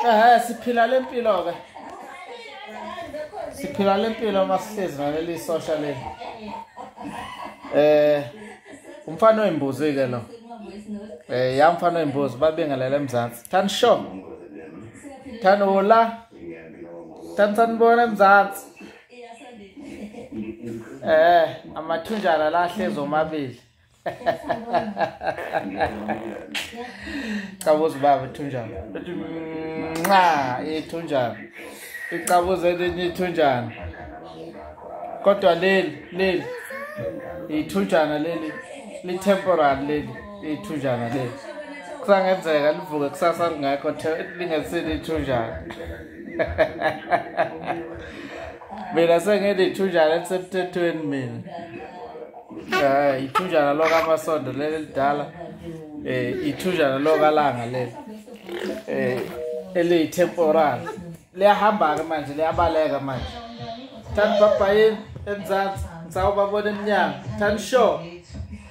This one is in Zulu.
Eh siphila lempilo ke. Siphila lempilo masihlezi naleli social le. Eh umfana oyimbuzi ke lo. Eh yamfana oyimbuzi babengalela eMzansi. Than sure. Than ola. Tani sanibona mzansi. Eh, amathunjana la hlezi omabili. Cabuza baba ithunjana. Nxa ithunjana. Icabuza elinye ithunjana. Kodwa leli leli ithunjana leli li temporary leli. ithunjana le kusangenzeka livuke kusasa lingekho lingesile ithunjana mina sengilithunjana elisemthethweni mina um ithunjana lokamasondo leli lidala um ithunjana lokalanga leli um eliyi-temporal liyahamba-ke manje liyabaleka manje thani babhayini emzansi ngisawubabona emnyango thani sure